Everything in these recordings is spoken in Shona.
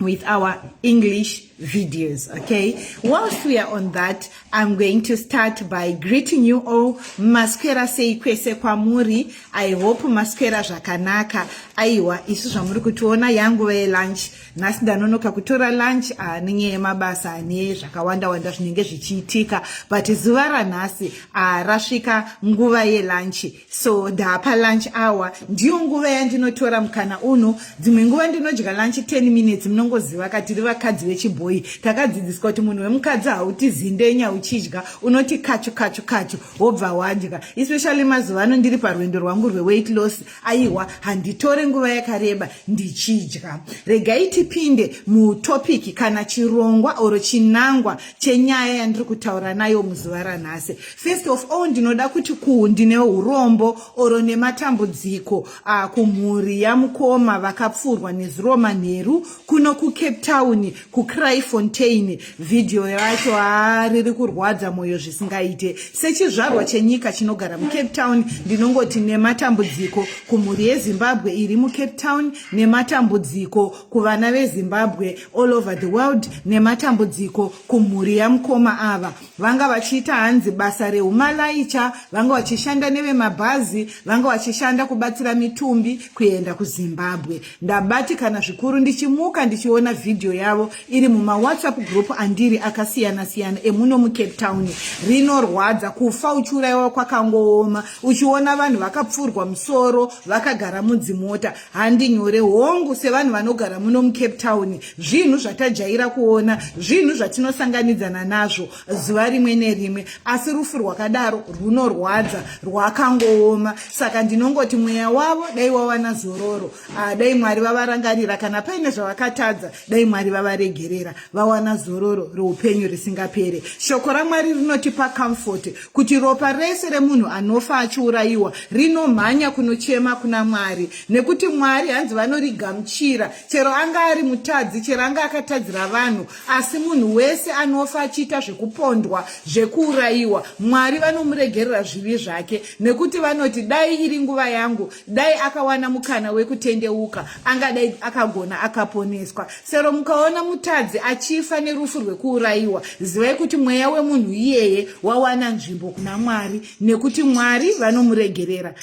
with our English videos. Okay, whilst we are on that, I'm going to start by greeting you all. Maswera sei kwese kwamuri. I hope maswera zvakanaka. Aiwa, isu zvamuri kutiona yangu ve lunch. Nhasi ndanonoka kutora lunch ah, nenyaya yemabasa ane zvakawanda wanda zvinenge zvichiitika. But zuva ranhasi ah, rasvika nguva yelunch. so ndapa lunch hour ndiyo nguva yandinotora mukana uno dzimwe nguva ndinodya lunch 10 minutes munongoziva ka tiri vakadzi vechibhoyi takadzidziswa kuti munhu wemukadzi hauti zindenya uchidya unoti kachu kachu kachu wobva wadya especially mazuva ano ndiri parwendo rwangu rweweight loss aiwa handitore nguva yakareba ndichidya regai tipinde mutopic kana chirongwa oro chinangwa chenyaya yandiri kutaura nayo muzuva ranhasi First of all ndinoda kuti ku ndine urombo oro nematambudziko uh, kumhuri yamukoma vakapfurwa nezuro manheru kuno kucape town kucryfontain vhidhiyo yacho ha riri kurwadza mwoyo zvisingaite sechizvarwa chenyika chinogara mucape town ndinongoti nematambudziko kumhuri yezimbabwe iri mucape town nematambudziko kuvana vezimbabwe all over the world nematambudziko kumhuri yamukoma ava vanga vachiita hanzi basa rehumalaicha vanga vachishanda nevemabhazi vanga vachishanda kubatsira mitumbi kuenda kuzimbabwe ndabatikana zvikuru ndichimuka ndichiona vhidhiyo yavo iri mumawhatsapp group andiri akasiyana-siyana emuno mucape town rinorwadza kufa uchiurayiwa kwakangooma uchiona vanhu vakapfurwa musoro vakagara mudzimota handi nyore hongu sevanhu vanogara muno mucape town zvinhu zvatajaira kuona zvinhu zvatinosanganidzana nazvo zuva rimwe nerimwe asi rufu rwakadaro rwunorwadza rwakangooma saka ndinongoti mweya wavo dai wawana zororo ah, dai mwari vavarangarira kana paine zvavakatadza dai mwari vavaregerera vawana zororo reupenyu risingapere shoko ramwari rinotipa comfort kuti ropa rese remunhu anofa achiurayiwa rinomhanya kunochema kuna mwari nekuti mwari hanzi vanorigamuchira chero anga ari mutadzi chero anga akatadzira vanhu asi munhu wese anofa achiita zvekupondwa zvekuurayiwa mwari vanomuregerera zvivi zvake nekuti vanoti dai iri nguva yangu dai akawana mukana wekutendeuka angadai akagona akaponeswa sero mukaona mutadzi achifa nerufu rwekuurayiwa zivai kuti mweya wemunhu iyeye wawana nzvimbo kuna mwari nekuti mwari vanomuregerera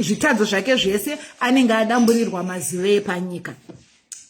zvitadzo zvake zvese anenge adamburirwa mazive epanyika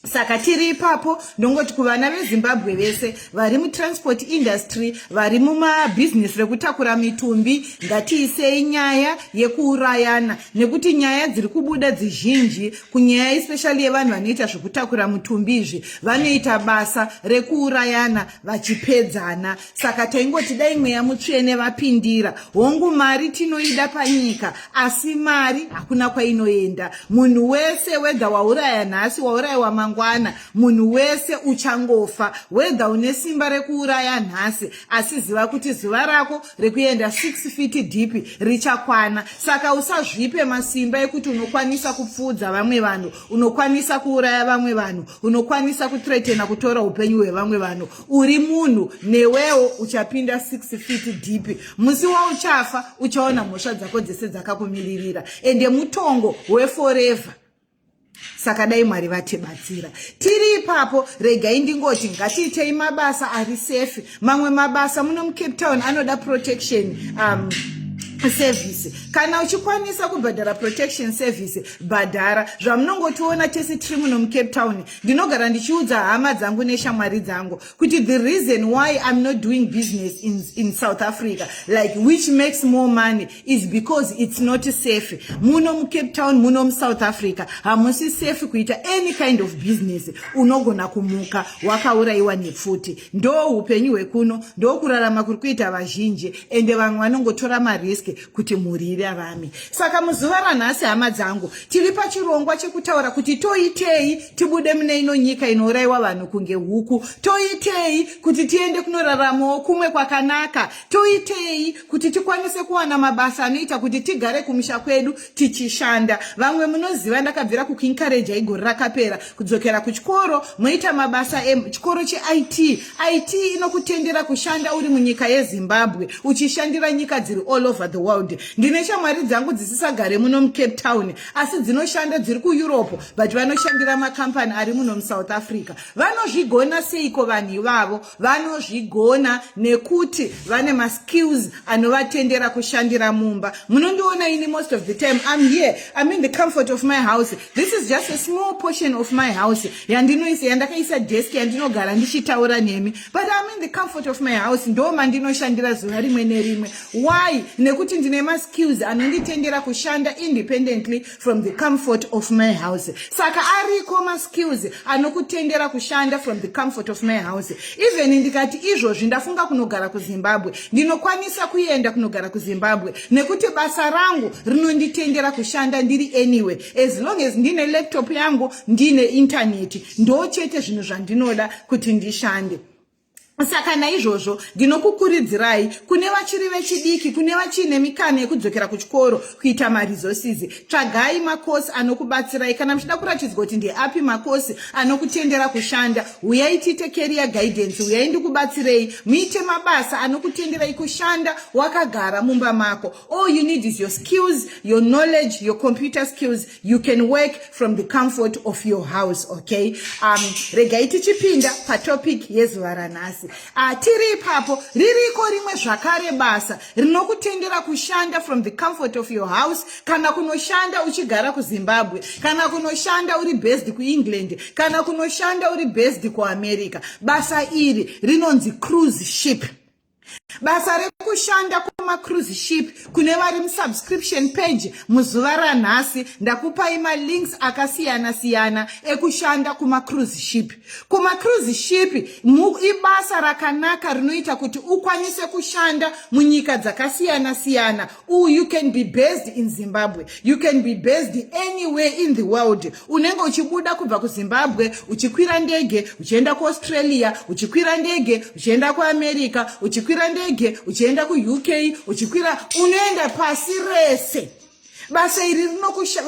saka tiri ipapo ndongoti kuvana vezimbabwe vese vari mutransport industry vari mumabhizinesi rekutakura mitumbi ngatiisei nyaya yekuurayana nekuti nyaya dziri kubuda dzizhinji kunyaya especially yevanhu vanoita zvekutakura mutumbi izvi vanoita basa rekuurayana vachipedzana saka taingoti dai mweya mutsvene vapindira hongu mari tinoida panyika asi mari hakuna kwainoenda munhu wese wedha wauraya nhasi waurayiwa mangwana munhu wese uchangofa wedha une simba rekuuraya nhasi asi ziva kuti zuva rako rekuenda 6 fiti dhipi richakwana saka usazvipe masimba ekuti unokwanisa kupfuudza vamwe vanhu unokwanisa kuuraya vamwe vanhu unokwanisa kutretena kutora upenyu hwevamwe vanhu uri munhu newewo uchapinda 6 feet deep musi wauchafa uchaona mhosva dzako dzese dzakakumiririra ende mutongo weforever saka dai mwari vatibatsira tiri ipapo regai ndingoti ngatiitei mabasa ari safe mamwe mabasa muno mucape town anoda protection um, service kana uchikwanisa kubhadhara protection service bhadhara zvamunongotiona tese tiri muno mucape town ndinogara ndichiudza hama dzangu neshamwari dzangu kuti the reason why iam not doing business in, in south africa like which makes more money is because it's not safe muno mucape town muno musouth africa hamusi safe kuita any kind of business unogona kumuka wakaurayiwa nepfuti ndo upenyu hwekuno ndokurarama kuri kuita vazhinji ende vamwe vanongotora marisk kuti mhuri irarame saka muzuva ranhasi hama dzangu tiri pachirongwa chekutaura kuti toitei tibude mune ino nyika inourayiwa vanhu kunge huku toitei kuti tiende kunoraramawo kumwe kwakanaka toitei kuti tikwanise kuwana mabasa anoita kuti tigare kumusha kwedu tichishanda vamwe munoziva ndakabvira kukuinkareja igore rakapera kudzokera kuchikoro moita mabasa echikoro cheit it inokutendera kushanda uri munyika yezimbabwe uchishandira nyika dziri all over the world ndine shamwari dzangu dzisisagare muno mucape town asi dzinoshanda dziri kueurope but vanoshandira makambani ari muno musouth africa vanozvigona seiko vanhu ivavo vanozvigona nekuti vane maskills anovatendera kushandira mumba munondiona ini most of the time im here im in the comfort of my house this is just a small portion of my house yandinoisa yandakaisa desk yandinogara ndichitaura nemi but im in the comfort of my house ndo mandinoshandira zuva rimwe nerimwe why nekuti ndine maskills anonditendera kushanda independently from the comfort of my house saka ariko maskills anokutendera kushanda from the comfort of my house even ndikati izvozvi ndafunga kunogara kuzimbabwe ndinokwanisa kuenda kunogara kuzimbabwe nekuti basa rangu rinonditendera kushanda ndiri anyway as long as ndine laptop yangu ndine intaneti ndo chete zvinhu zvandinoda kuti ndishande saka naizvozvo ndinokukuridzirai kune vachiri vechidiki kune vachiine mikana yekudzokera kuchikoro kuita maresources tsvagai makosi anokubatsirai kana muchida kuratidzwa kuti ndeapi makosi anokutendera kushanda huyai tiite career guidance huyai ndikubatsirei muite mabasa anokutenderai kushanda wakagara mumba mako all you need is your skills your knowledge your computer skills you can work from the comfort of your house okay um, regai tichipinda patopic yezuva ranhasi uh, tiri ipapo ririko rimwe zvakare basa rinokutendera kushanda from the comfort of your house kana kunoshanda uchigara kuzimbabwe kana kunoshanda uri based kuengland kana kunoshanda uri based kuamerica basa iri rinonzi cruise ship basa rekushanda kumacruise ship kune vari musubscription page muzuva ranhasi ndakupai malinks akasiyana siyana ekushanda kumacruise ship kumacruise ship ibasa rakanaka rinoita kuti ukwanise kushanda munyika dzakasiyana siyana Ooh, you can be based in Zimbabwe. You can be based anywhere in the world. Unenge uchibuda kubva kuZimbabwe, uchikwira ndege, uchienda kuAustralia, uchikwira ndege, uchienda kuAmerica, uchikwira ndege, uchienda kuUK, uchikwira, unoenda pasi rese. Basa iri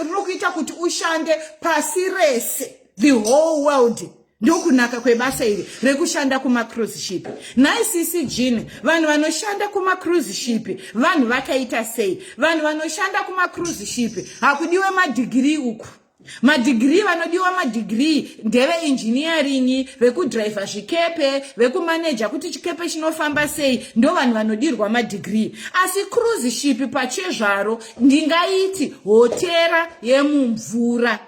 rinokuita kuti ushande pasi rese. The whole world. ndokunaka kwebasa iri rekushanda kumacruise ship nhai sisi jin vanhu vanoshanda kumacruise ship vanhu vakaita sei vanhu vanoshanda kumacruise ship hakudiwe madhigirii uku madhigirii vanodiwa madhigirii ndeve engineering vekudhiraivha zvikepe vekumaneja kuti chikepe chinofamba sei ndo vanhu vanodirwa madhigirii asi cruise ship pachezvaro ndingaiti hotera yemumvura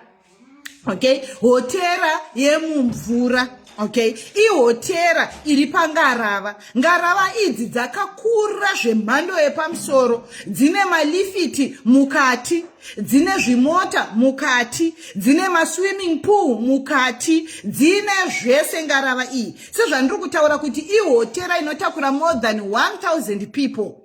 okay hotera yemumvura okay ihotera iri pangarava ngarava idzi dzakakura zvemhando yepamusoro dzine malifiti mukati dzine zvimota mukati dzine maswimming pool mukati dzine zvese ngarava iyi sezvandiri kutaura kuti ihotera inotakura more than 1000 people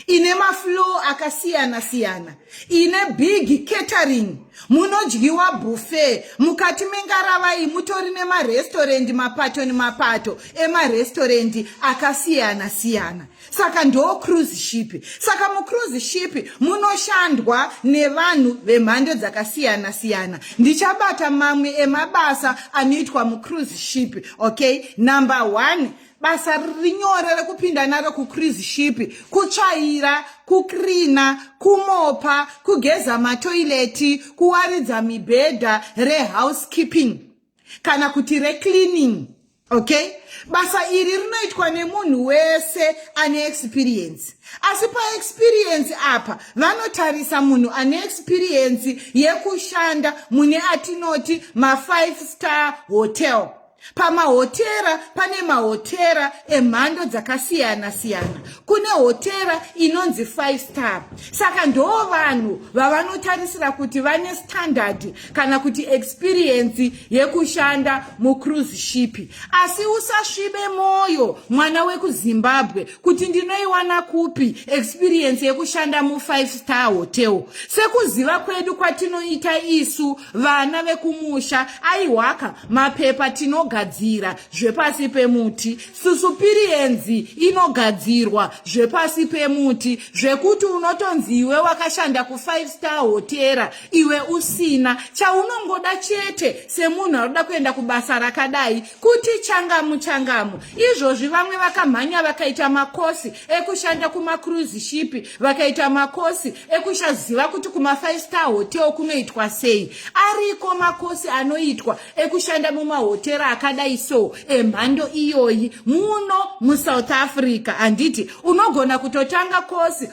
ine maflow akasiyana siyana ine big catering munodyiwa buffet mukati mengaravai mutori nemarestorendi mapato nemapato emarestorendi akasiyana siyana saka ndo cruise ship saka mucruise ship munoshandwa nevanhu vemhando dzakasiyana siyana ndichabata mamwe emabasa anoitwa mucruise ship okay number one basa riri nyore rekupinda naro kucruise ship kutsvaira kukrina kumopa kugeza matoileti kuwaridza mibhedha rehousekeeping kana kuti recleaning okay basa iri rinoitwa nemunhu wese ane experience asi paexperience apa vanotarisa munhu ane experience yekushanda mune atinoti mafive star hotel pamahotera pane mahotera emhando dzakasiyana siyana kune hotera inonzi five star saka ndo vanhu vavanotarisira kuti vane standard kana kuti experience yekushanda mucruise ship asi usasvibe mwoyo mwana wekuzimbabwe kuti ndinoiwana kupi experience yekushanda mufive star hotel sekuziva kwedu kwatinoita isu vana vekumusha aiwaka mapepa tinogadzira zvepasi pemuti susupirienzi inogadzirwa zvepasi pemuti zvekuti unotonzi iwe wakashanda kufive star hotera iwe usina chaunongoda chete semunhu anoda kuenda kubasa rakadai kuti changamu changamu izvozvi vamwe vakamhanya vakaita makosi ekushanda kumacruise shipi vakaita makosi ekushaziva kuti kumafive star hotel kunoitwa sei ariko makosi anoitwa ekushanda mumahotera akadai so emhando iyoyi muno musouth africa handiti unogona kutotanga kosi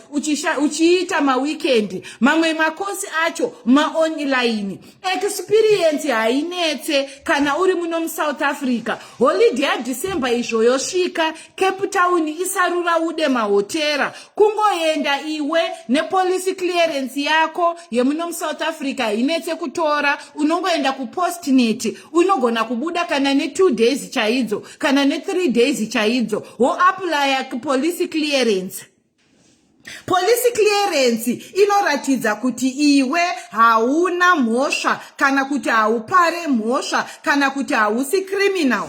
uchiita mawikendi mamwe makosi acho maonline experience hainetse kana uri muno musouth africa holide yadecember izvo yosvika cape town isarura ude mahotera kungoenda iwe nepolicy clearance yako yemuno musouth africa hainetse kutora unongoenda kupostnet unogona kubuda kana netwo days chaidzo kana nethree days chaidzo woaplya policy clearance Police clearance inoratidza kuti iwe hauna mhosva kana kuti haupare mhosva kana kuti hausi criminal.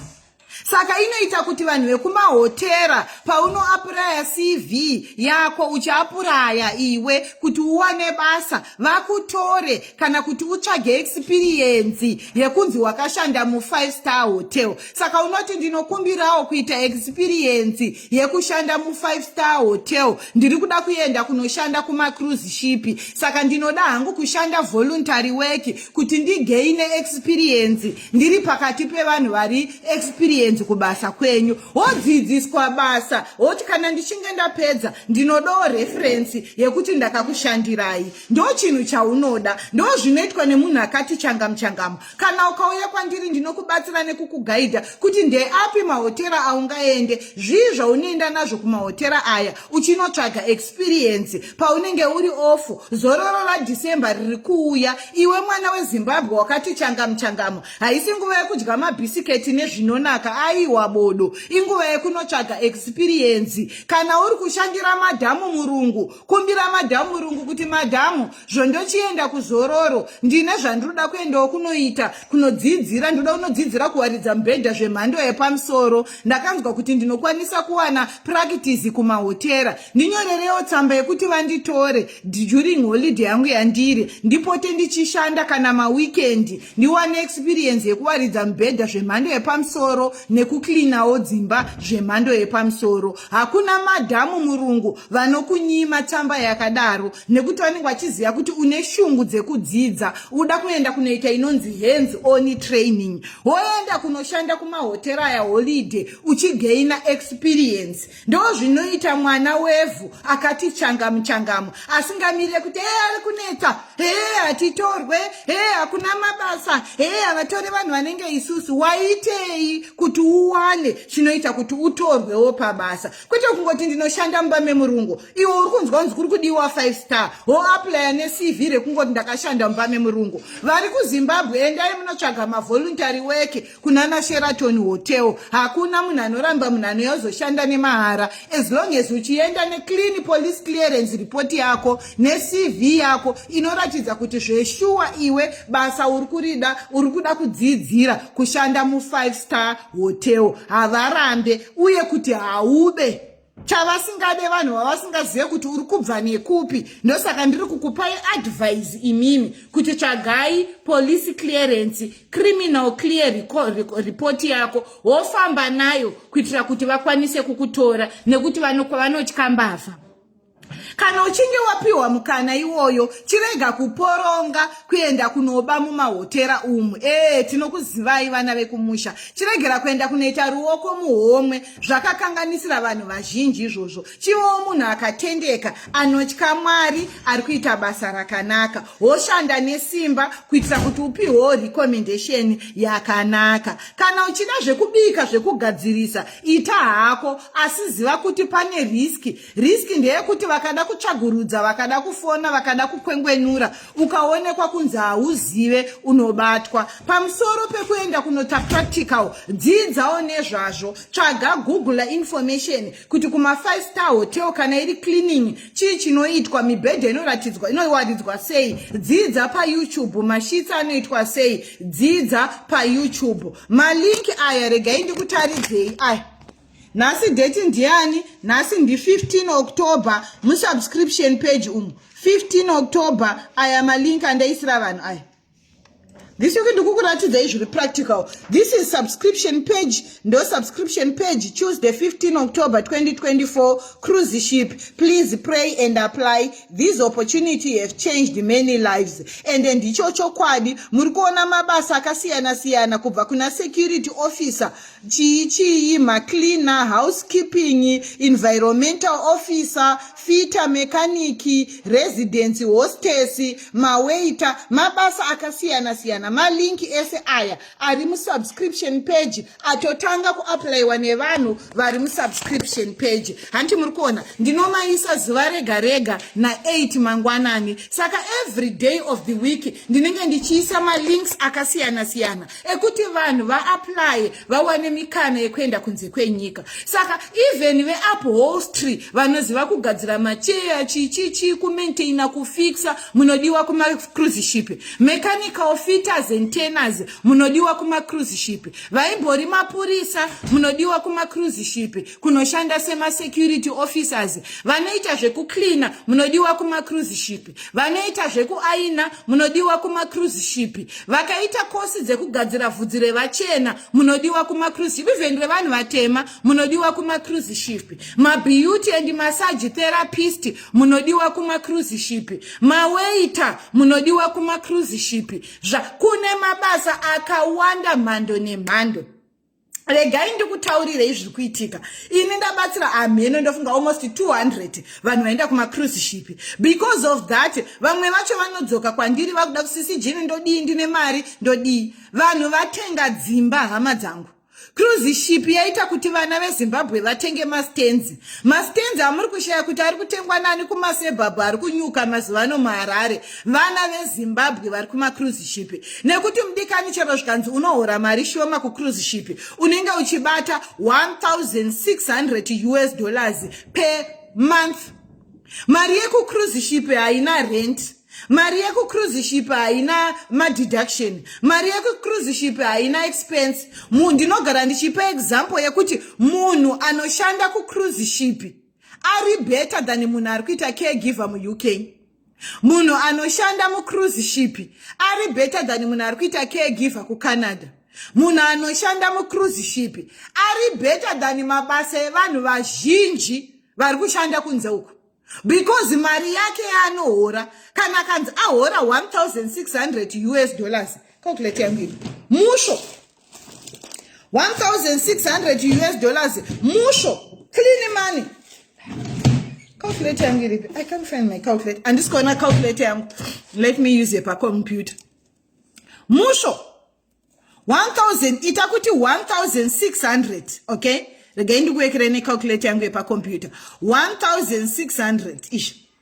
Saka inoita kuti vanhu vekumahotera paunoapuraya CV yako uchiapuraya iwe kuti uwane basa vakutore kana kuti utsvage experience yekunzi wakashanda mu5 star hotel. Saka unoti ndinokumbirawo kuita experience yekushanda mufive star hotel ndiri kuda kuenda kunoshanda kumacruise shipi saka ndinoda hangu kushanda voluntary work kuti ndigeine experience ndiri pakati pevanhu vari experience kubasa kwenyu wodzidziswa basa woti kana ndichinge ndapedza ndinodawo referensi yekuti ndakakushandirai ndo chinhu chaunoda ndo zvinoitwa nemunhu akati changamuchangamu kana ukauya kwandiri ndinokubatsira nekukugaidha kuti ndeapi mahotera aungaende zvii zvaunoenda nazvo kumahotera aya uchinotsvaga experience paunenge uri ofu zororo radhecember riri kuuya iwe mwana wezimbabwe wakati changamu changamu haisi nguva yekudya mabhisiketi nezvinonaka aiwa bodo inguva yekunotsvaga experience kana uri kushandira madhamu murungu kumbira madhamu murungu kuti madhamu zvondochienda kuzororo ndine zvandinoda kuendawo kunoita kunodzidzira ndinoda kunodzidzira kuwaridza mubhedha zvemhando yepamusoro ndakanzwa kuti ndinokwanisa kuwana prakitizi kumahotera ndinyorerewo tsamba yekuti vanditore during holiday yangu yandiri ndipote ndichishanda kana mawikendi ndiwane experience yekuwaridza mubhedha zvemhando yepamusoro nekuklinawo dzimba zvemhando yepamusoro hakuna madhamu murungu vanokunyima tsamba yakadaro nekuti vanenge vachiziva kuti une shungu dzekudzidza uda kuenda kunoita inonzi hands on training woenda kunoshanda kumahoteri aya holiday uchigaina experience ndo zvinoita mwana wevhu akati changamu changamu asingamire kuti ee ari kunetsa hee hatitorwe hee hakuna mabasa hee havatore vanhu vanenge isusu waitei kuti uwane chinoita kuti utorwewo pabasa kwete kungoti ndinoshanda mumba memurungu iwe uri kunzwa kunzi kuri kudiwa five star hoaplya necv rekungoti ndakashanda mumba memurungu vari kuzimbabwe endai munotsvaga mavoruntary weke kunana sheraton hotel hakuna munhu anoramba munhu anouya uzoshanda nemahara as long as uchienda neclean police clearance report yako necv yako inoratidza kuti zveshuwa iwe basa uri kurida uri kuda kudzidzira kushanda mufive star hotel havarambe uye kuti haube chavasingade vanhu vavasingazive kuti uri kubva nekupi ndosaka ndiri kukupai advise imimi kuti tsvagai police clearance criminal clear report yako wofamba nayo kuitira kuti vakwanise kukutora nekuti vanotya mbavha kana uchinge wapiwa mukana iwoyo chirega kuporonga kuenda kunoba mumahotera umu ee tinokuzivai vana vekumusha chiregera kuenda kunoita ruoko muhomwe zvakakanganisira vanhu vazhinji izvozvo chivewo munhu akatendeka anotya mwari ari kuita basa rakanaka woshanda nesimba kuitira kuti upiwewo recommendation yakanaka kana uchida zvekubika zvekugadzirisa ita hako asi ziva kuti pane riski risk ndeyekuti vakada kutsvagurudza vakada kufona vakada kukwengwenura ukaonekwa kunzi hauzive unobatwa pamusoro pekuenda kunoita practical dziidzawo nezvazvo tsvaga google information kuti kumafive star hotel kana iri cleaning chii chinoitwa mibhedha inoratidzwa inowaridzwa sei dziidza payoutube mashitsi anoitwa sei dziidza payoutube malinki aya regai ndikutaridzei aya nhasi date ndiani nhasi ndi 15 october musubscription page umu 15 october aya malink andaisira vanhu aya this week ndikukuratidzai zviri practical this is subscription page ndo subscription page tuesday 15 october 2024 cruise ship please pray and apply this opportunity have changed many lives and ndicho chokwadi muri kuona mabasa akasiyana siyana kubva kuna security officer chii chii macleaner housekeeping environmental officer fita mekaniki residence hostess mawaita mabasa akasiyana siyana malink ese aya ari musubscription page atotanga kuaplayiwa nevanhu vari musubscription page hanti muri kuona ndinomaisa zuva rega rega na8 mangwanani saka every day of the week ndinenge ndichiisa malinks akasiyana siyana ekuti vanhu vaaplaye vawane mikana yekuenda kunze kwenyika saka even veupholstry vanoziva kugadzira macheya chichichi kumaintaina kufixa munodiwa kumacruise ship mechanical fitters and teners munodiwa kumacruise ship vaimbori mapurisa munodiwa kumacruise ship kunoshanda semasecurity officers vanoita zvekucleana munodiwa kumacruise ship vanoita zvekuaina munodiwa kumacruise ship vakaita kosi dzekugadzira vhudzi revachena munodiwa kumacruise ship even revanhu vatema munodiwa kumacruise ship mabeauty and massage therapist munodiwa kumacruise ship mawaiter munodiwa kumacruise ship zva kune mabasa akawanda mhando nemhando regai ndikutaurirei zviri kuitika ini ndabatsira hamheno ndofunga almost 200 vanhu vaenda kumacruise ship because of that vamwe vacho vanodzoka kwandiri vakuda kusisi jini ndodii ndine mari ndodii vanhu vatenga dzimba hama dzangu cruise ship yaita kuti vana vezimbabwe vatenge mastenzi mastenzi amuri kushaya kuti ari kutengwa nani kumasebhabhu ari kunyuka mazuva ano muharare vana vezimbabwe vari kumacruise ship nekuti mudikani chero zvikanzi unohora mari shoma kucruise ship unenge uchibata 1600 us dollars per month mari yekucruise ship haina rent mari yekucruise ship haina madeduction mari yekucruise ship haina expense munhu ndinogara ndichipa example yekuti munhu anoshanda kucruise ship ari better than munhu ari kuita caregiver muuk munhu anoshanda mucruise ship ari better than munhu ari kuita caregiver kucanada munhu anoshanda mucruise ship ari better than mabasa evanhu vazhinji vari kushanda kunze uku because mari yake yaanohora kana kanzi ahora 1600 us dollars calculate yangu ipi musho 1600 us dollars musho clean money calculator yangu iripi i can't find my calculator handisi kuona calculator yangu let me use yepacomputer musho 1000 ita kuti 1600 okay regai ndikuwekere necalculator yangu yepacomputer 1600 ish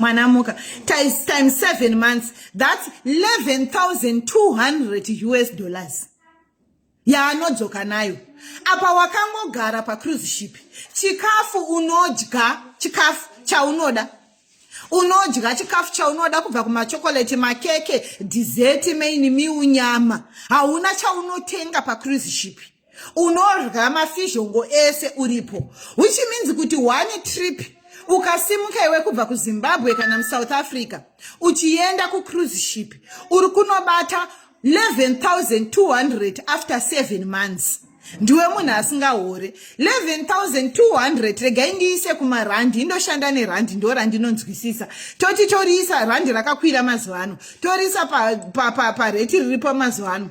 mwana muka times time 7 months thats 11200 us dollars yaanodzoka nayo apa wakangogara pacruise ship chikafu unodya chikafu chaunoda unodya chikafu chaunoda kubva kumachokoreti makeke dhizeti maini miunyama hauna chaunotenga pacruise shipi unodya mafizhongo ese uripo which means kuti one trip ukasimuka iwe kubva kuzimbabwe kana musouth africa uchienda kucruise ship uri kunobata 11200 after 7 months ndiwe munhu asingahore 11200 regai ndiise kumarandi indoshanda nerandi ndo randinonzwisisa toti toriisa randi rakakwira mazuva ano toriisa pareti pa, pa, pa riripo mazuva ano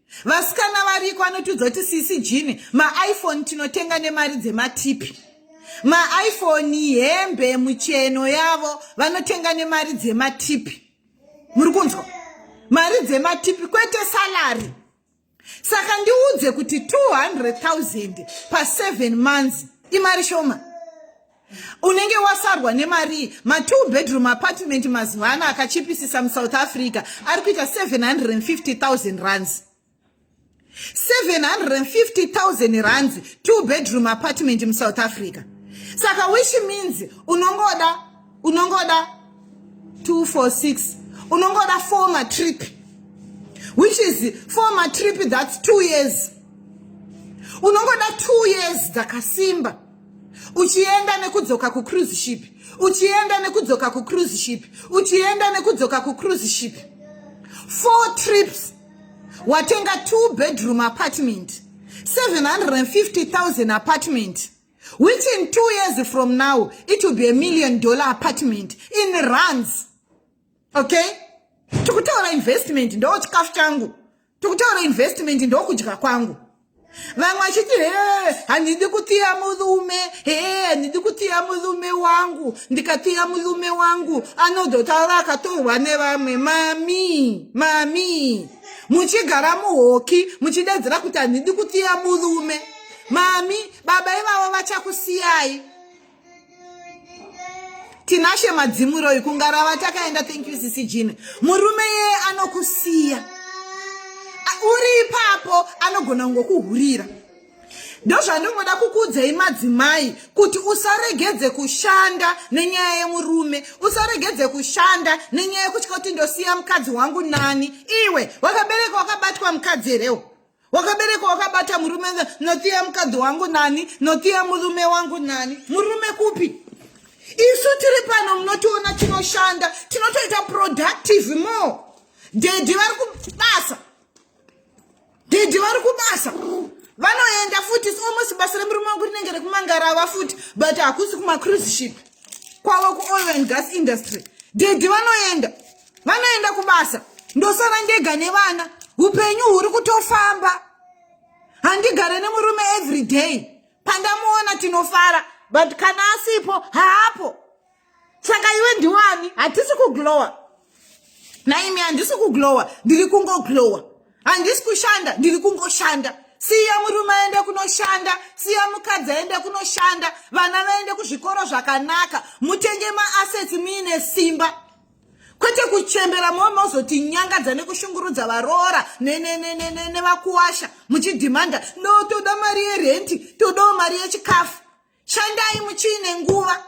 vasikana variko anotiudza kuti sisi jini maiphone tinotenga nemari dzematipi maiphone hembe mucheno yavo vanotenga nemari dzematipi muri kunzwa mari dzematipi kwete salary saka ndiudze kuti 200 000 pa7 months imari shoma unenge wasarwa nemarii matwo bedroom apartment mazuva ano akachipisisa musouth africa ari kuita 750000 runs 750000 runs two bedroom apartment musouth africa saka which means unongoda unongoda 246 unongoda four matrip which is four matrip that's two years unongoda two years dzakasimba uchienda nekudzoka kucruise ship uchienda nekudzoka kucruise ship uchienda nekudzoka kucruise ship four trips watenga two bedroom apartment 750000 apartment which in two years from now it will be a million dollar apartment in runs okay tikutaura investment ndo chikafu changu tikutaura investment ndokudya kwangu vamwe vachiti he handidi kutiya murume he handidi kutiya murume wangu ndikatiya murume wangu anodotaura akatorwa nevamwe mami mami muchigara muhoki muchidedzera kuti handidi kutiya murume mami baba ivavo vachakusiyai tinashe madzimuroi kungarava takaenda thank you sisi jina murume yeye anokusiya uri ipapo anogona kungokuhurira ndozvandingoda kukuudzai madzimai kuti usaregedze kushanda nenyaya yemurume usaregedze kushanda nenyaya yekutya kuti ndosiya mukadzi wangu nani iwe wakabereka wakabatwa mukadzi herewo wakabereka wakabata murume notiya mukadzi wangu nani notiya murume wangu nani murume kupi isu tiri pano munotiona tinoshanda tinotoita productive more dedi vari kubasa dedi vari kubasa vanoenda futi almost basa remurume wangu rinenge rekumangarava futi but hakusi kumacruise ship kwavo kuoil and gas industry dedi vanoenda vanoenda kubasa ndosara ndega nevana upenyu huri kutofamba handigare nemurume every day pandamuona tinofara but kana asipo haapo saka iwe ndiwani hatisi kuglowa naimi handisi kuglowa ndiri kungoglowa handisi kushanda ndiri kungoshanda siya murume aende kunoshanda siya mukadzi aende kunoshanda vana vaende kuzvikoro zvakanaka mutenge maassets muine simba kwete kuchembera mova mozoti nyangadza nekushungurudza varoora nevakuwasha muchidhimanda no toda mari yerenti todawo mari yechikafu shandai muchiine nguva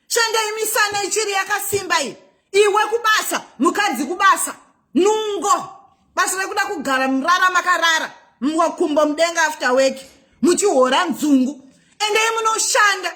shandai misana ichiri yakasimba iyi iwe kubasa mukadzi kubasa nungo basa rekuda kugara murara makarara mwakumbo mudenga after weki muchihora nzungu endei munoshanda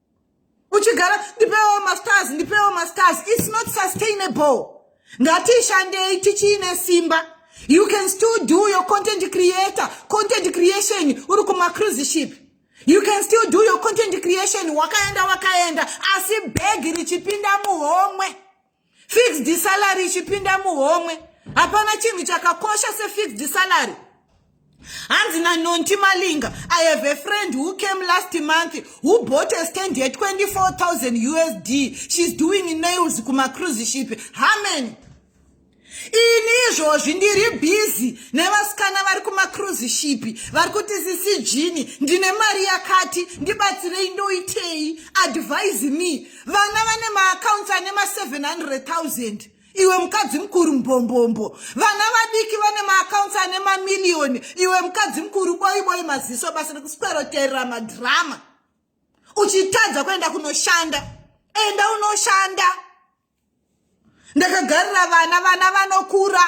uchigara ndipewo mastars ndipewo mastars its not sustainable ngatishandei tichiine simba you can still do your content creator content creation uri kumacruise ship you can still do your content creation wakaenda wakaenda asi bhegi richipinda muhomwe fixed salary ichipinda muhomwe hapana chinhu chakakosha sefixed salary hanzi nanonti malinga i have a friend who came last month who bought a stand ye 24000 usd she's doing nails kumacruise ship hamany ini izvozvi ndiri bhizi nevasikana vari kumacruise ship vari kuti sisi jini ndine mari yakati ndibatsirei ndoitei advise me vana vane maakaunti ane ma 700000 iwe mukadzi mukuru mbombombo vana vadiki vane maakaunti ane mamiliyoni iwe mukadzi mukuru boiboi maziso basa rekusweroterera madhirama uchitadza kuenda kunoshanda enda unoshanda ndakagarira vana vana vanokura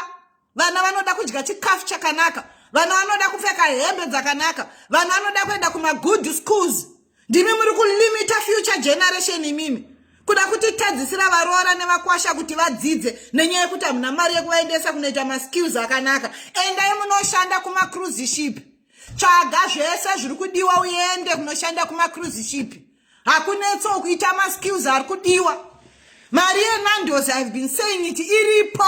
vana vanoda kudya chikafu chakanaka vana vanoda kupfeka hembe dzakanaka vana vanoda kuenda kumagood schools ndimi muri kulimita future generation imimi kuda kutitadzisira varoora nevakwasha kuti vadzidze nenyaya yekuti hamuna mari yekuvaendesa kunoita maskills akanaka endai munoshanda kumacruise ship tsvaga zvese zviri kudiwa uende kunoshanda kumacruise ship hakunetso kuita maskills ari kudiwa mari yenandos ihave been saying it iripo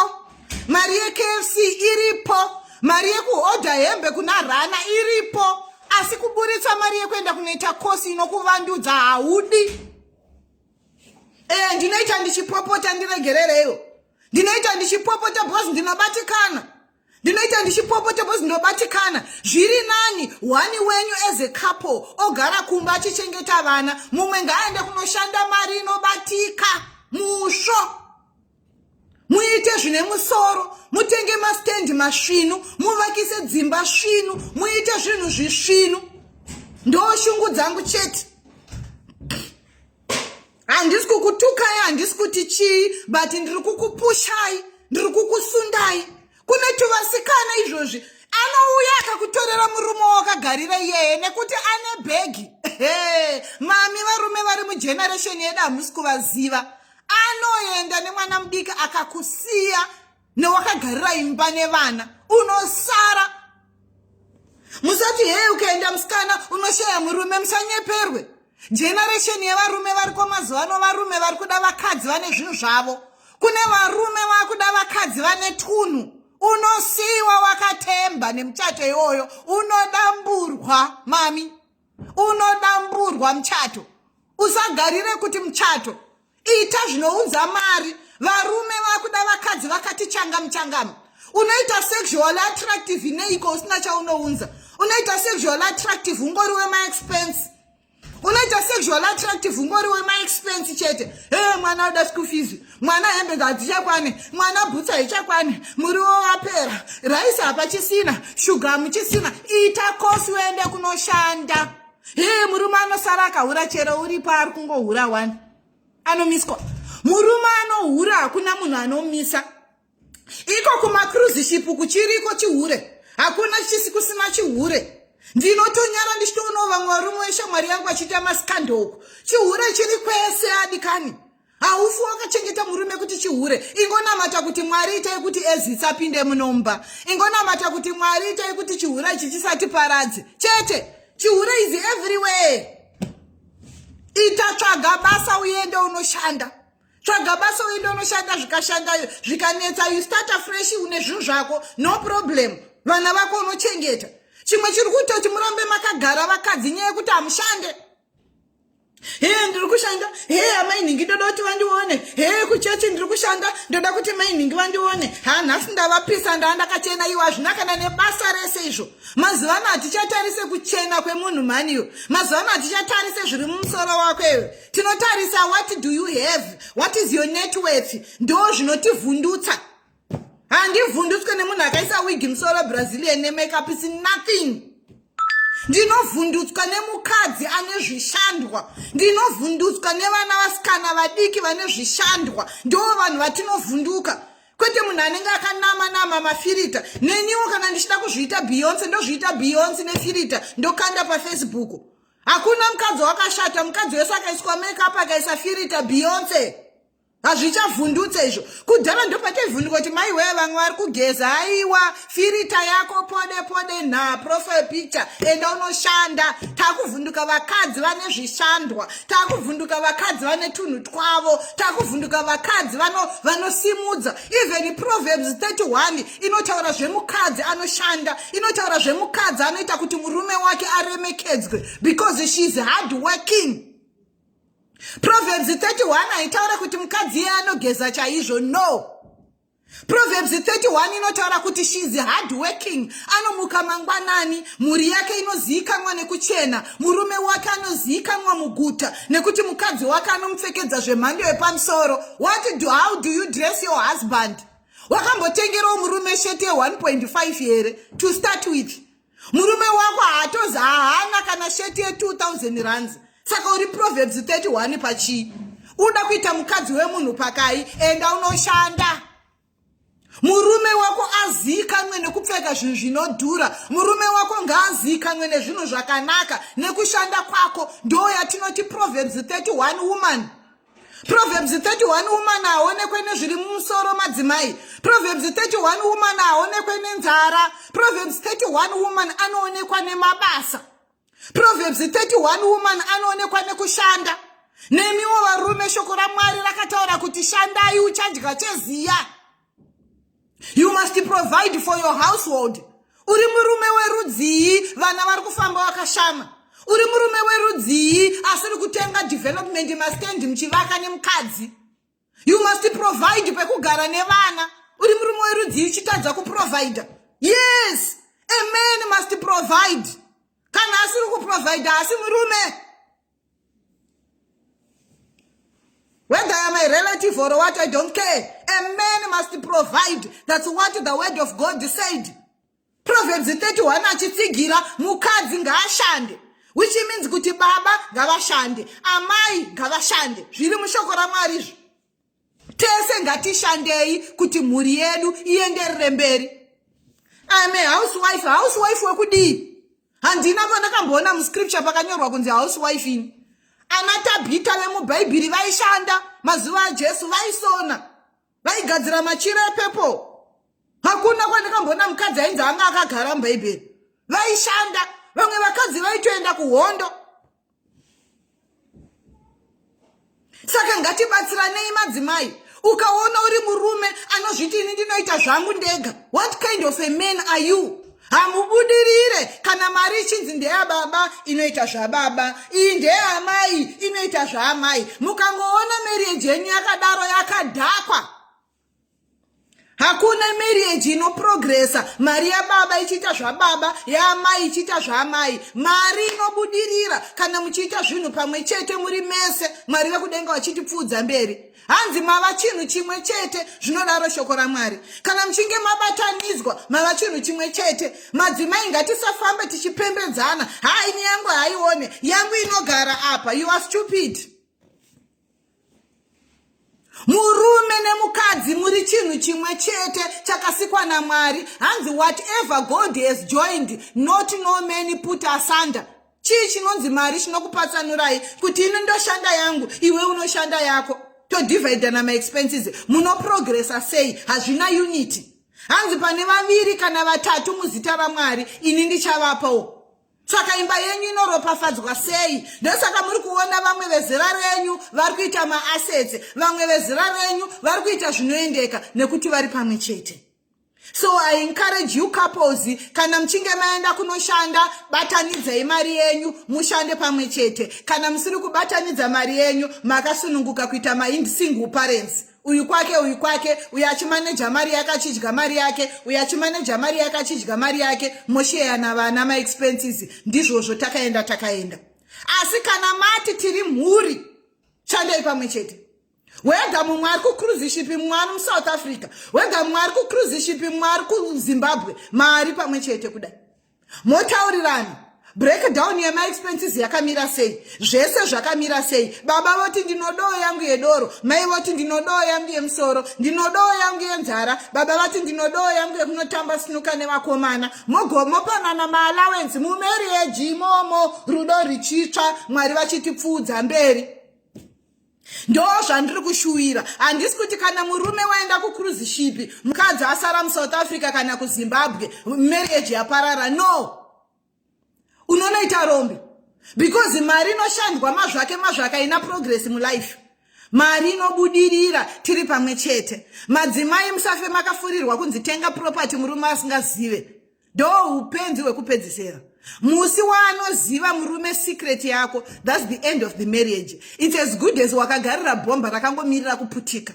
mari yekfc iripo mari yekuhodha hembe kuna rana iripo asi kuburitsa mari yekuenda kunoita kosi inokuvandudza haudi e ndinoita ndichipopota ndiregerereiwo ndinoita ndichipopota bcause ndinobatikana ndinoita ndichipopota bcause ndinobatikana zviri nani wani wenyu as a couple ogara kumba achichengeta vana mumwe ngaaende kunoshanda mari inobatika musvo muite zvine musoro mutenge mastendi masvinu muvakise dzimba svinu muite zvinhu zvisvinu ndoshungu dzangu chete handisi kukutukai handisi kuti chii but ndiri kukupushai ndiri kukusundai kune tuvasikana izvozvi anouya akakutorera murume wakagarira iyeye nekuti ane bhegi mami varume vari mugeneresheni yedu hamusi kuvaziva anoenda nemwana mudiki akakusiya newakagarira imba nevana unosara musati hei ukaenda musikana unoshaya murume musanyeperwe generation yevarume variko mazuva ano varume vari kuda vakadzi vane zvinhu zvavo kune varume vakuda vakadzi vane tunhu unosiyiwa wakatemba nemuchato iwoyo unodamburwa mami unodamburwa muchato usagarire kuti muchato ita zvinounza mari varume vakuda vakadzi vakati changamu changamu unoita sexual attractive neiko usina chaunounza unoita sexual attractive ungori wemaexpense unoita sexual attractive ungori wemaexpense chete he mwana uda school fees mwana hembe ngadzichakwane mwana bhutsa ichakwane muriwo wapera raisi hapachisina shuga hamuchisina ita kosi uende kunoshanda hee murume anosara akahura chero uripo ari kungohura wani anomiswa murume anohura hakuna munhu anomisa iko kumacruise ship kuchiriko chihure hakuna chisi kusina chihure ndinotonyara ndichitoonawo vamwe varume weshamwari yangu achiita masikandi uku chihure chiri kwese adikani haufi wakachengeta murume kuti chihure ingonamata kuti mwari itai kuti ezi isapinde munomba ingonamata kuti mwari itai kuti chihure ichi chisatiparadze chete chihure is everywhere itatsvaga basa uende unoshanda tsvaga basa uende unoshanda zvikashanda zvikanetsa you start afresh une zvinhu zvako no problem vana vako unochengeta chimwe chiri kuita kuti murambe makagara vakadzi nyaya yekuti hamushande hee ndiri kushanda hee amainhingi ndoda kuti vandione hee kuchechi ndiri kushanda ndoda kuti mainhingi vandione ha nhasi ndavapisa ndaa ndakachena iwo hazvina kana nebasa rese izvo mazuva ano hatichatarise kuchena kwemunhu mhaniyo mazuva ano hatichatarise zviri mumusoro wako iwe tinotarisa what do you have what is your net worth ndo zvinotivhundutsa handivhundutswe nemunhu akaisa wigi musoro brazilian nemakeup is nothing ndinovhundutswa nemukadzi ane zvishandwa ndinovhundutswa nevana vasikana vadiki vane zvishandwa ndo vanhu vatinovhunduka kwete munhu anenge akanama nama mafirita neniwo kana ndichida kuzviita beyonce ndozviita beyonce nefirita ndokanda pafacebook hakuna mukadzi wakashata mukadzi wese akaiswa makeup akaisa firita beyonce hazvichavhundutse izvo kudhara ndopachaivhunduka kuti mai wee vamwe vari kugeza aiwa firita yako pode pode nha profile picture enda unoshanda takuvhunduka vakadzi vane zvishandwa takuvhunduka vakadzi vane tunhu twavo takuvhunduka vakadzi vanosimudza even proverbs 31 inotaura zvemukadzi anoshanda inotaura zvemukadzi anoita kuti murume wake aremekedzwe because she is hard working proverbs 31 haitaura kuti mukadzi iye anogeza chaizvo no proverbs 31 inotaura kuti she is hard working anomuka mangwanani mhuri yake inozivikanwa nekuchena murume wake anozivikanwa muguta nekuti mukadzi wake anomupfekedza zvemhando yepamusoro what do how do you dress your husband wakambotengerawo murume sheti ye1.5 here to start with murume wako haatozi haana kana sheti ye2000 runs saka uri proverbs 31 pachii uda kuita mukadzi wemunhu pakai enda unoshanda murume wako aziikanwe nekupfeka zvinhu zvinodhura murume wako ngaaziikanwe nezvinhu zvakanaka nekushanda kwako ndoo yatinoti proverbs 31 woman proverbs 31 woman haonekwe nezviri mumusoro madzimai proverbs 31 woman haonekwe nenzara proverbs 31 woman anoonekwa nemabasa Proverbs 31 woman anoonekwa nekushanda. Nemiwo varume shoko raMwari rakataura kuti shandai uchadya cheziya. You must provide for your household. Uri murume werudzii vana vari kufamba vakashama. Uri murume werudzii asiri kutenga development mastand muchivaka nemukadzi. you must provide pekugara nevana uri murume werudzii uchitadza kuprovida yes a man must provide kana asiri kuprovida asi murume whether am a relative or what i don't care a man must provide that's what the word of god said Proverbs 31 achitsigira mukadzi ngaashande which means kuti baba ngavashande amai ngavashande zviri mushoko ramwari izvo tese ngatishandei kuti mhuri yedu ienderere mberi im a housewife housewife wekudii handina pandakamboona muscripture pakanyorwa kunzi housewife ini ana tabhita vemubhaibheri vaishanda mazuva ajesu vaisona vaigadzira machira epepo hakuna kwandikambona mukadzi ainzi anga akagara mubhaibheri vaishanda vamwe vakadzi vaitoenda kuhondo saka ngatibatsiranei madzimai ukaona uri murume anozviti ini ndinoita zvangu ndega what kind of a man are you hamubudirire kana mari ichinzi ndeyababa inoita zvababa iyi ndeyaamai inoita zvaamai mukangoona marieji yenyu yakadaro yakadhakwa hakuna marieji inoprogresa mari yababa ichiita zvababa yaamai ichiita zvaamai mari inobudirira kana muchiita zvinhu pamwe chete muri mese mwari vekudenga vachitipfuudza mberi hanzi mava chinhu chimwe chete zvinodaro shoko ramwari kana muchinge mabatanidzwa mava chinhu chimwe chete madzimai ngatisafambe tichipembedzana haa ini yangu haione yangu inogara apa you are stupid murume nemukadzi muri chinhu chimwe chete chakasikwa namwari hanzi whatever god has joined not no many put asunder chii chinonzi mari chinokupatsanurai kuti ini ndoshanda yangu iwe unoshanda yako todivhaidhana maexpenses munoprogresa sei hazvina unity hanzi pane vaviri kana vatatu muzita ramwari ini ndichavapawo saka imba yenyu inoropafadzwa sei ndosaka muri kuona vamwe vezera renyu vari kuita maasetsi vamwe vezera renyu vari kuita zvinoendeka nekuti vari pamwe chete so i encourage you couples kana muchinge maenda kunoshanda batanidzai mari yenyu mushande pamwe chete kana musiri kubatanidza mari yenyu makasununguka kuita masingle parents uyu kwake uyu kwake uyu achimaneja mari yake achidya mari yake uyu achimaneja mari yake achidya mari yake mosheyana vana maexpenses ndizvozvo takaenda takaenda asi kana mati tiri mhuri shandei pamwe chete wega mumwe ari kucruise ship mumwe ari musouth africa wega mumwe ari kucruise ship mumwe ari kuzimbabwe mari pamwe chete kudai motaurirana breakdown yemaexpenses yakamira sei zvese zvakamira sei baba voti ndinodoo yangu yedoro mai voti ndinodoo yangu yemusoro ndinodoo yangu yenzara baba vati ndinodoo yangu yekunotamba sinuka nevakomana mogomopanana maallowance mumarieji imomo rudo richitsva mwari vachitipfuudza mberi ndo zvandiri kushuwira handisi kuti kana murume waenda kucruise shipi mukadzi asara musouth africa kana kuzimbabwe marriage yaparara no unonoita rombe because mari inoshandwa mazvake mazvake aina progress mulife mari inobudirira tiri pamwe chete madzimai musafe makafurirwa kunzi tenga property murume asingazive ndo upenzi hwekupedzisera musi waanoziva murume secret yako thats the end of the marriage its as good as wakagarira bhomba rakangomirira kuputika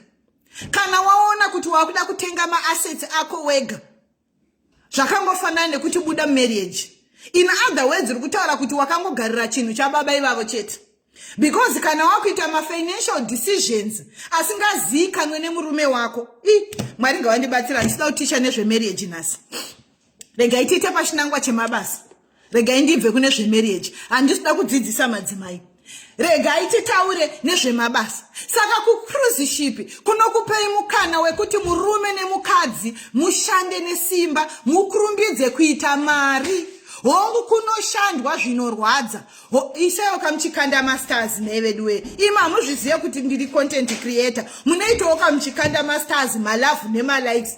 kana waona kuti wakuda kutenga maassets ako wega zvakangofanana nekuti buda marriage in other words uri kutaura kuti wakangogarira chinhu chababa ivavo chete because kana wakuita mafinancial decisions asingaziikanwe nemurume wako i mwari ngawandibatsira handisida kuticha nezvemarriage nhasi regai tiite pachinangwa chemabasa regai ndibve kune zvemarriage handisida kudzidzisa madzimai regai titaure nezvemabasa saka kucruzishipi kunokupei mukana wekuti murume nemukadzi mushande nesimba mukurumbidze kuita mari hongu kunoshandwa zvinorwadza isaiwo kamuchikanda masters nei veduwe imi hamuzvizive kuti ndiri content creator munoitawo kamuchikanda masters malavhu nemalikes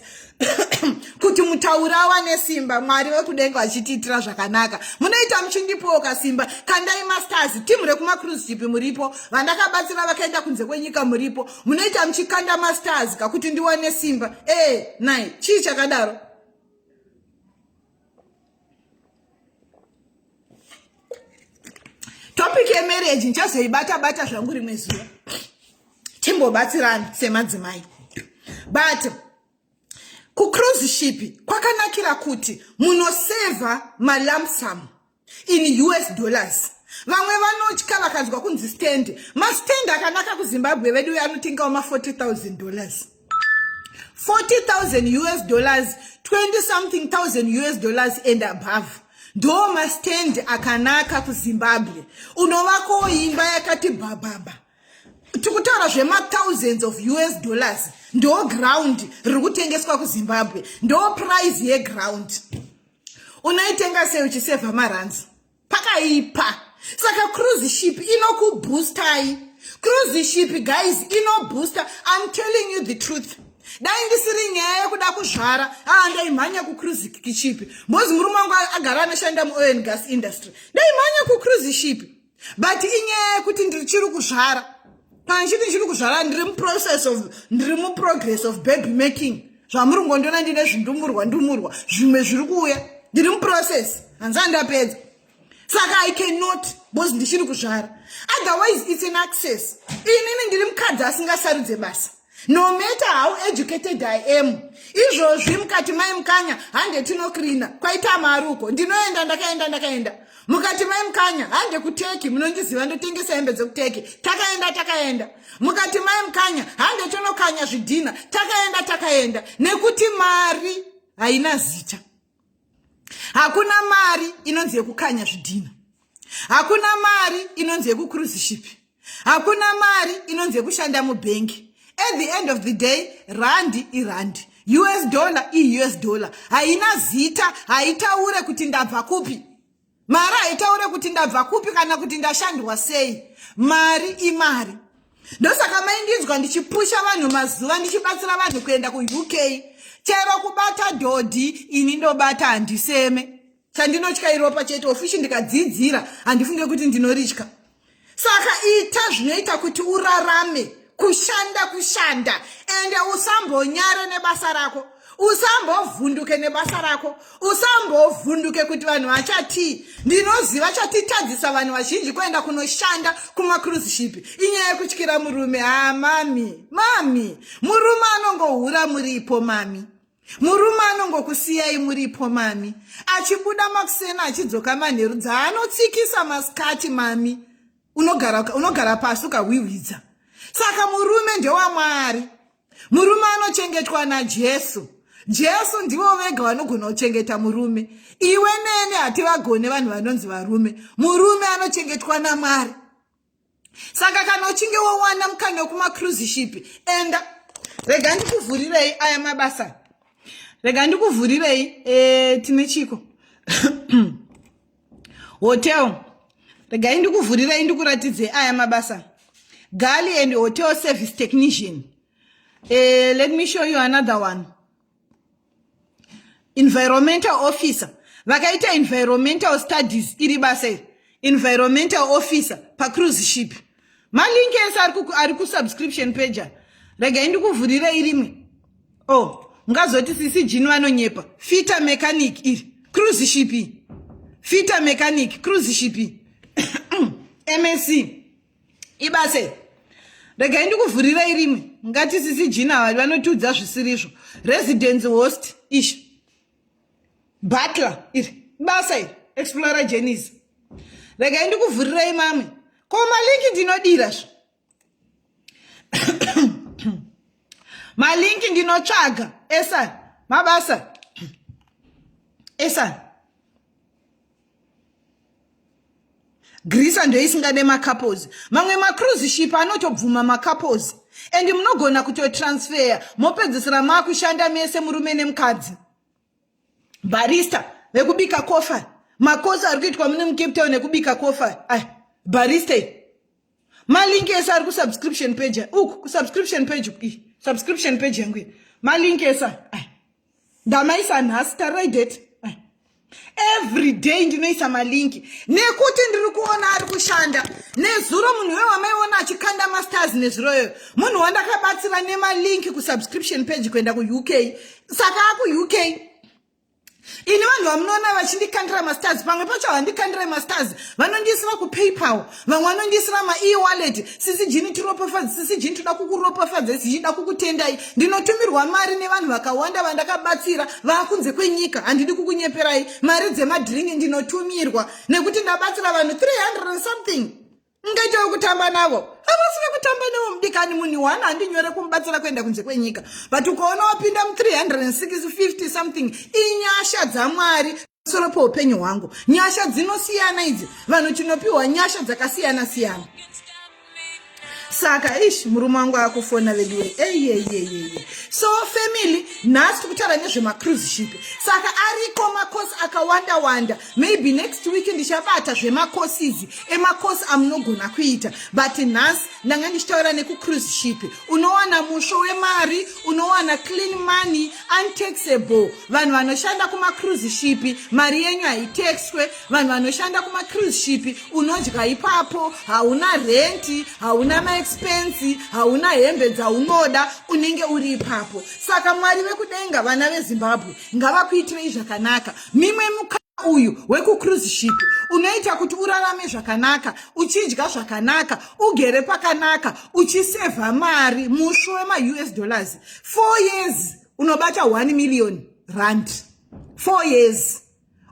kuti mutaura awane simba mwari vekudenga vachitiitira zvakanaka munoita muchindipowo kasimba kandai masters timu rekumacruz jipi muripo vandakabatsira vakaenda kunze kwenyika muripo munoita muchikanda masters kakuti ndiwane simba e eh, nai chii chakadaro topic yemarriage ndichazoibata bata zvangu rimwe zuva timbobatsirani semadzimai but kucruise ship kwakanakira kuti munosevha malamsamu in us dollars vamwe vanotya vakanzwa kunzi stand mastand akanaka kuzimbabwe vedu uyo anotengawo ma 40000 dollars 40000 us dollars 20 something thousand us dollars and above ndo mastand akanaka kuzimbabwe unovakowo imba yakati bhabhabha tikutaura zvemathousands of us dollars ndo ground riri kutengeswa kuzimbabwe ndo prize yeground unoitenga sei uchisevha maranzi pakaipa saka cruise ship inokubhoostai cruise ship guys inobooster im telling you the truth dai ndisiri nyaya yekuda kuzvara aa ndaimhanya kucruise ship mbozi murume wangu agara anoshanda muoil and gas industry ndaimhanya kucruise ship but inyaya yekuti ndichiri kuzvara panchiti ndichiri kuzvara ndiri muprocess of ndiri muprogress of baby making zvamuri ngondiona ndine zvindumurwa ndumurwa zvimwe zviri kuuya ndiri muprocess hanzi andapedza saka i cannot bcause ndichiri kuzvara otherwise its an access inini ndiri mukadzi asingasarudze basa no matter how educated i am izvozvi mukati mai mukanya hande tinokrina kwaita amari uko ndinoenda ndakaenda ndakaenda mukati mai mukanya hande kuteki munondiziva ndotengesa hembe dzekuteki takaenda takaenda mukati mai mukanya hande tonokanya zvidhina takaenda takaenda nekuti mari haina zita hakuna mari inonzi yekukanya zvidhina hakuna mari inonzi yekucruziship hakuna mari inonzi yekushanda mubhengi at the end of the day randi irandi us dollar ius dollar haina zita haitaure kuti ndabva kupi mari haitaure kuti ndabva kupi kana kuti ndashandwa sei mari imari ndosaka maindinzwa ndichipusha vanhu mazuva ndichibatsira vanhu kuenda kuuk chero kubata dhodhi ini ndobata handiseme chandinotya iropa chete ofishi ndikadziidzira handifunge kuti ndinoritya saka ita zvinoita kuti urarame kushanda kushanda ende usambonyare nebasa rako usambovhunduke nebasa rako usambovhunduke kuti vanhu vachatii ndinoziva chatitadzisa vanhu vazhinji kuenda kunoshanda kumacruzeship inyaya yekutyira murume haa mami mami murume anongohura muripo mami Murume anongokusiyai muripo mami, achibuda makuseni achidzoka manheru dzaanotsikisa masikati mami, unogara, unogara pasi ukahwihwidza. Saka murume ndewamwari, murume anochengetwa naJesu. Jesu ndivo vega vanogona kuchengeta murume. Iwe neni hativagone vanhu vanonzi varume. Murume anochengetwa naMwari. saka kana uchinge wowana mukana wekumaCruise ship enda rega ndikuvhurirei aya mabasa rega ndikuvhurirei e, tine chiko hotel regai ndikuvhurirei ndikuratidzei aya mabasa gali and hotel service technician e, let me show you another one environmental officer vakaita environmental studies iri basa iri environmental officer pacruise ship malink ese ari kusubscription page rega indikuvhurira irimwe o oh, mungazoti sisi jini vanonyepa fita mechanic iri cruise ship fita mechanic cruise ship msc ibase regai ndikuvhurirei rimwe ngati sisi jina vari vanotiudza zvisirizvo residence host ishi butler iri basa iri explora jenis regai ndikuvhurirei mamwe ko malinki ndinodira zvo malinki ndinotsvaga esa mabasa esa grisa ndoisingade macouples mamwe macruise ship anotobvuma macouples and munogona kutotransfeya mopedzisira maakushanda mese murume nemukadzi barista vekubika kofa makosi ari kuitwa mune mucape town ekubika kofa barista malinki ese ari kusubscription page uku kusubscription page uku subscription page yangu malinki ese ndamaisa nhasi tarai date every day ndinoisa malinki nekuti ndiri kuona ari kushanda nezuro munhu iwe wamaiona achikanda masters nezuro iyoyo munhu wandakabatsira nemalinki kusubscription page kuenda kuuk saka akuuk ini vanhu vamunoona vachindikandira mastars pamwe pacho havandikandire mastars vanondiisira kupaypal vamwe vanondiisira maewallet sisi jini tiropafadze sisi jini toda kukuropafadza sichida kukutendai ndinotumirwa mari nevanhu vakawanda vandakabatsira vaakunze kwenyika handidi kukunyeperai mari dzemadringi ndinotumirwa nekuti ndabatsira vanhu 300 something mungaita wekutamba navo havasi vekutamba navo mudikani munhu one handinyore kumubatsira kuenda kunze kwenyika but ukaona wapinda mu350 something inyasha dzamwari soro poupenyu hwangu nyasha dzinosiyana idzi vanhu tinopiwa nyasha dzakasiyana siyana saka ish murume wangu akufona veduwe eyeyeyeye so family nhasi tikutaura nezvemacruise ship saka ariko makosi akawanda wanda maybe next week ndichabata zvemacourses emacourse amunogona kuita but nhasi ndanga ndichitaura nekucruise ship unowana musvo wemari unowana clean money untaxable vanhu vanoshanda kumacruise ship mari yenyu haitaxwe vanhu vanoshanda kumacruise ship unodya ipapo hauna renti hauna maexpensi hauna hembe dzaunoda unenge uri ipapo saka mwari vekudenga vana vezimbabwe ngavakuitirei zvakanaka mimwe muka uyu wekucruise ship unoita kuti urarame zvakanaka uchidya zvakanaka ugere pakanaka uchisevha mari musvo wemaus dollars four years unobata one million rand four years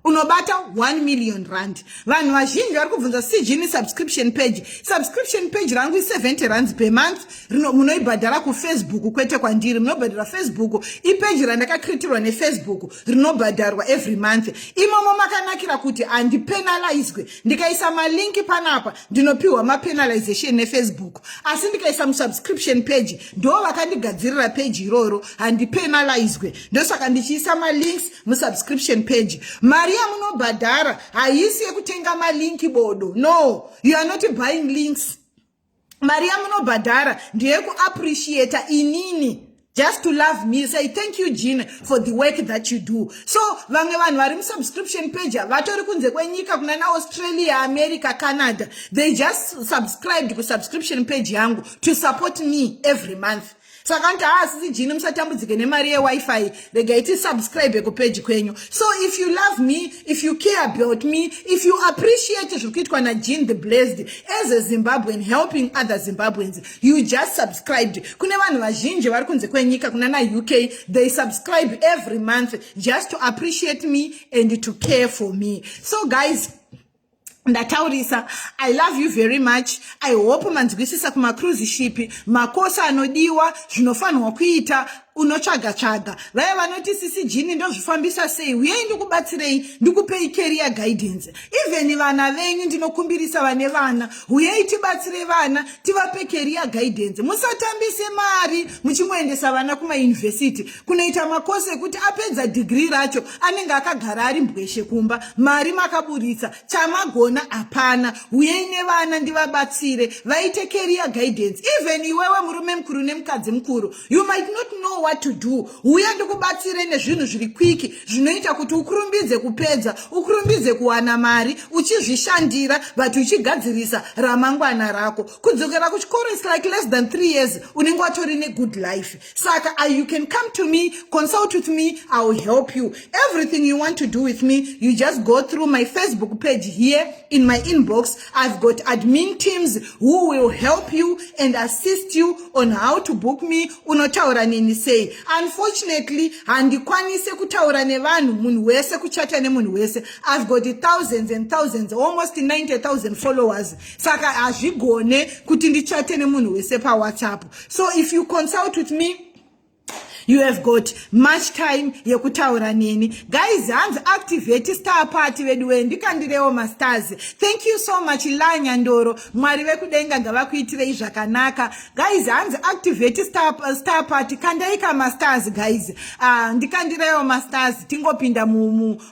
unobata 1 million rand vanhu vazhinji vari kubvunza cgini subscription page subscription page rangu i70 rands per month rino munoibhadhara kufacebook kwete kwandiri munobhadhara facebook ipeji randakakritirwa nefacebook rinobhadharwa every month imomo makanakira kuti handipenalaizwe ndikaisa malinki panapa ndinopiwa mapenalization nefacebook asi ndikaisa musubscription page ndo vakandigadzirira page iroro handipenalizwe ndosaka ndichiisa malinks musubscription page mari yamunobhadhara haisi yekutenga malinki bodo no you are not buying links mari yamunobhadhara ndeyekuappreciata inini just to love me say thank you jean for the work that you do so vamwe vanhu vari musubscription page vatori kunze kwenyika kuna naaustralia america canada they just subscribed kusubscription page yangu to support me every month saka nti haa sisi jini musatambudzike nemari yewifi rega iti subscribe kupeji kwenyu so if you love me if you care about me if you appreciate zviri kuitwa najin the blessed as a zimbabwean helping other zimbabweans you just subscribed kune vanhu vazhinji vari kunze kwenyika kuna na uk they subscribe every month just to appreciate me and to care for me so guys ndataurisa i love you very much i hope manzwisisa kumacruise ship makosa anodiwa zvinofanirwa kuita unotsvaga tsvaga vaya vanoti sisi jini ndozvifambisa sei uyei ndikubatsirei ndikupei career guidance even vana venyu ndinokumbirisa vane vana uyei tibatsire vana tivape career guidance musatambise mari muchingoendesa vana kumayunivhesiti kunoita makosi ekuti apedza dhigiri racho anenge akagara ari mbweshe kumba mari makaburitsa chamagona hapana uyei nevana ndivabatsire vaite career guidance even iwewe murume mukuru nemukadzi mukuru you might not know what to do uye ndikubatsire nezvinhu zviri kwiki zvinoita kuti ukurumbidze kupedza ukurumbidze kuwana mari uchizvishandira but uchigadzirisa ramangwana rako kudzokera kuchikoro is like less than three years unenge watori negood life saka I, you can come to me consult with me i will help you everything you want to do with me you just go through my facebook page here in my inbox i've got admin teams who will help you and assist you on how to book me unotaura neni sei unfortunately handikwanise kutaura nevanhu munhu wese kuchata nemunhu wese i've got thousands and thousands almost 90000 followers saka hazvigone kuti ndichate nemunhu wese pawhatsapp so if you consult with me you have got much time yekutaura neni guys hanzi activate star party veduwee ndikandirewo mastars thank you so much lanyandoro mwari vekudenga ngavakuitirei zvakanaka guys hanzi activate star, star party kandaika mastars guys uh, ndikandirewo mastars tingopinda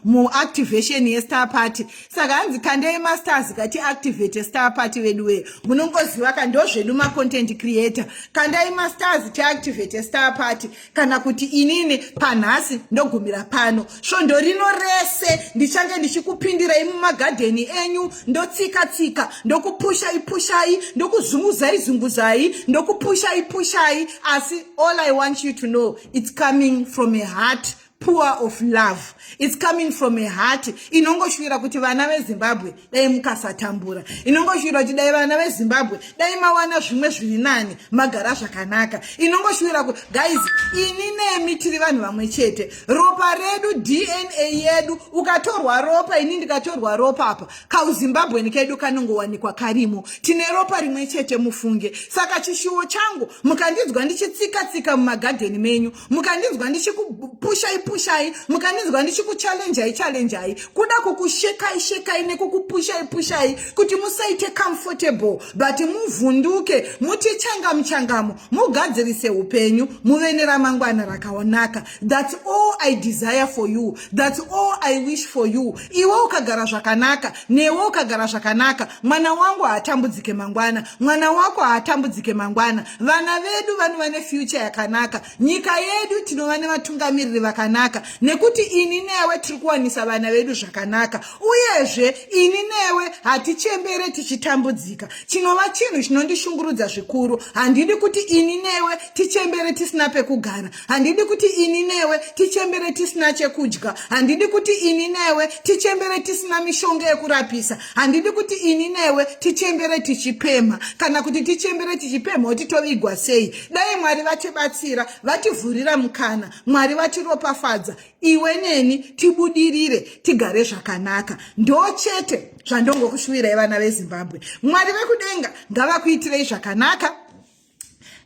muactivation mu, mu yestar party saka hanzi kandei mastars kati activate star party vedu wee munongoziva ka ndo zvedu macontent creator kandai mastars tiactivate star party kana kuti inini panhasi ndogumira pano svondo rino rese ndichange ndichikupindirai mumagadheni enyu ndotsika tsika ndokupushai pushai ndokuzunguzai zunguzai ndokupushai pushai asi all i want you to know its coming from a heart poor of love its coming from a heart inongoshuvira kuti vana vezimbabwe dai mukasatambura inongoshuwira kuti dai vana vezimbabwe dai mawana zvimwe zviri nani magara zvakanaka inongoshuwira kuti guys ini nemi tiri vanhu vamwe chete ropa redu dna yedu ukatorwa ropa ini ndikatorwa ropa apa kauzimbabweni kedu kanongowanikwa karimo tine ropa rimwe chete mufunge saka chishuwo changu mukandinzwa ndichitsika tsika mumagadheni menyu mukandinzwa ndichikupushai pushai mukandinzwa ndichikuchalenjai chalenjai kuda kukushekai shekai nekukupushai pushai kuti musaite comfortable but muvhunduke muti changamu changamu mugadzirise upenyu muve neramangwana rakaonaka thats all i desire for you thats all i wish for you iwe ukagara zvakanaka newe ukagara zvakanaka mwana wangu haatambudzike mangwana mwana wako haatambudzike mangwana vana vedu vanova nefuture yakanaka nyika yedu tinova nevatungamiriri vakanaka nekuti ini newe tiri kuwanisa vana vedu zvakanaka uyezve ini newe hatichembere tichitambudzika chinova chinhu chinondishungurudza zvikuru handidi kuti ini newe tichembere tisina pekugara handidi kuti ini newe tichembere tisina chekudya handidi kuti ini newe tichembere tisina mishonga yekurapisa handidi kuti ini newe tichembere tichipemha kana kuti tichembere tichipemha kuti tovigwa sei dai mwari vatibatsira vativhurira mukana mwari vatiropafadza iwe neni tibudirire tigare zvakanaka ndo chete zvandongokushuvirai vana vezimbabwe mwari vekudenga ngavakuitirei zvakanaka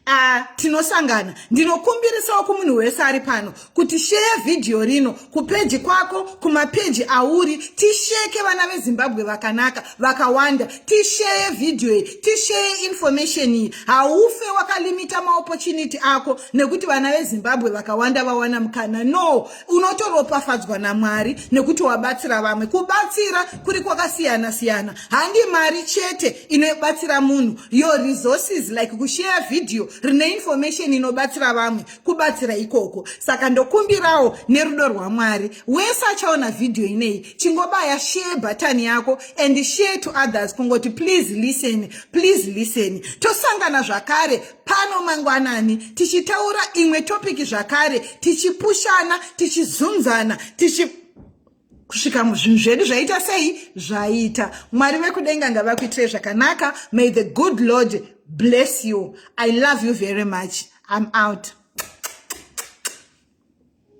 Uh, tinosangana ndinokumbirisawo kumunhu wese ari pano kuti sheya vhidhiyo rino kupeji kwako kumapeji auri tisheke vana vezimbabwe vakanaka vakawanda tisheye vhidhiyo iyi tisheye information iyi haufe wakalimita maopportunity ako nekuti vana vezimbabwe vakawanda vawana mukana no unotoropafadzwa namwari nekuti wabatsira vamwe kubatsira kuri kwakasiyana siyana handi mari chete inobatsira munhu your resources like kusheya vhidhiyo rine information inobatsira vamwe kubatsira ikoko saka ndokumbirawo nerudo rwamwari wese achaona vhidhiyo ineyi chingobaya share button yako and share to others kungoti please listen please listen tosangana zvakare pano mangwanani tichitaura imwe topiki zvakare tichipushana tichizunzana tichi kusvika zvinhu zvedu zvaita sei zvaita mwari vekudenga ngavakuitirei zvakanaka may the good lord bless you i love you very much i'm out